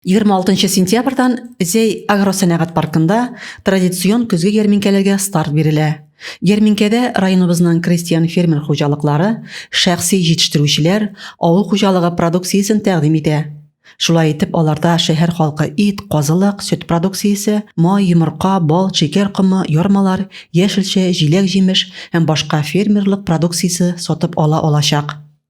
26 сентябрьдан Зәй агросәнәгать паркында традицион көзге ярминкәләргә старт бирелә. Ярминкәдә районыбызның крестьян-фермер хуҗалыклары, шәхси җитештерүчеләр авыл хуҗалыгы продукциясен тәкъдим итә. Шулай итеп, аларда шәһәр халкы ит, казылык, сөт продукциясе, май, йомырка, бал, шикәр комы, ярмалар, яшелчә, җиләк-җимеш һәм башка фермерлык продукциясе сатып ала алачак.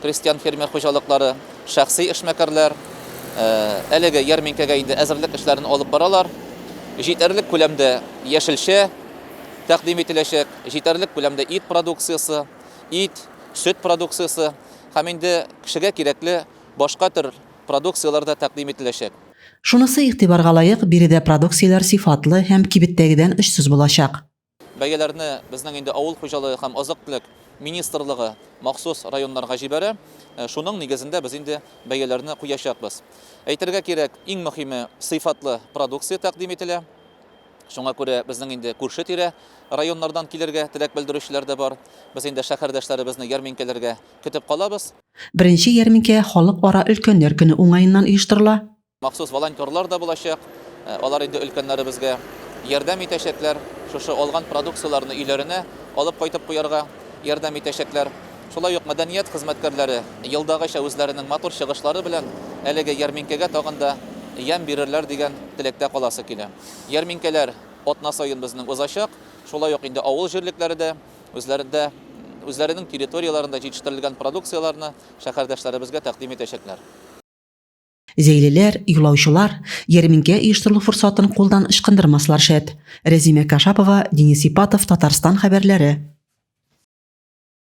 Крестьян-фермер хуҗалыклары, шәхси эшмәкәрләр әлеге ярминкәгә инде әзерлек эшләрен алып баралар. Җитәрлек күләмдә яшелчә тәкъдим ителәчәк, җитәрлек күләмдә ит продукциясе, ит, сөт продукциясе һәм инде кешегә кирәкле башка төр продукцияләр дә тәкъдим ителәчәк. Шунысы игътибарга лаек, биредә продукцияләр сыйфатлы һәм кибеттәгедән очсыз булачак. Бәяләрне безнең инде авыл хуҗалыгы һәм азык-төлек министрлыгы махсус районнарга җибәрә. Шуның нигезендә без инде бәяләрне куячакбыз. Әйтергә кирәк, иң мөһиме, сыйфатлы продукция тәкъдим ителә. Шуңа күрә безнең инде күрше-тирә районнардан килергә теләк белдерүчеләр дә бар. Без инде шәһәрдәшләребезне ярминкәләргә көтеп калабыз. Беренче ярминкә Халыкара өлкәннәр көне уңаеннан оештырыла. Махсус волонтерлар да булачак. Алар инде өлкәннәребезгә ярдәм итәчәкләр, шушы алган продукцияләрне өйләренә алып кайтып куярга ярдәм итәчәкләр. Шулай ук мәдәният хезмәткәрләре елдагыча үзләренең матур чыгышлары белән әлеге ярминкәгә тагын да ямь бирерләр дигән теләктә каласы килә. Ярминкәләр атна саен безнең узачак. Шулай ук инде авыл җирлекләре дә үзләрендә, үзләренең территорияләрендә җитештерелгән продукцияләрне шәһәрдәшләребезгә тәкъдим итәчәкләр. Зәйлеләр, юлаучылар ярминкә оештырылу форсатын кулдан ычкындырмаслар шәт. Рәзимә Кашапова, Денис Ипатов, Татарстан хәбәрләре.